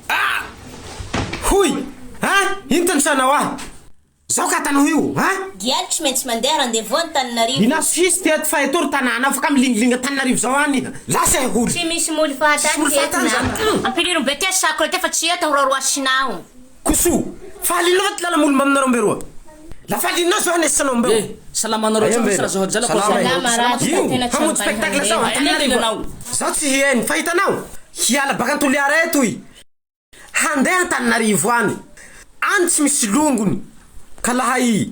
Ah! Hoy! Hein? Inty ny sainao ah! Zao ka atanao io hein? Gialy tsy maintsy mandeha rendez-vous Antananarivo. Inona sisy teto fa eto ry tanàna afaka milingilingy Antananarivo zao any iha! Lasa iha hono! Tsy misy moly fahatany teto na. Ampilirin'ny Betesy sakro ity fa tsy eto aho roaroasina ao. Koso, faly anao ato lala molomba aminareo mbe roa. La faly anao zao anesa anao mbeo. Eh, salama anareo tsao misy razohajala koa zao anareo koa salama tsika tena tsy ampay handeha. Aty anie tena anao. Zaho tsy hihaino fa hitanao hiala baka antoliara eto i handeha antananarivo any any tsy misy longony ka laha i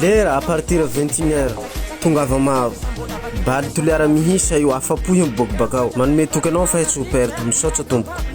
Lera à partir vingt et une heure tongava maro Bal Toliara mihisa io afapo he miboaky bakao Manome toky anao fa he tsy ho perte Misaotsa tompoko.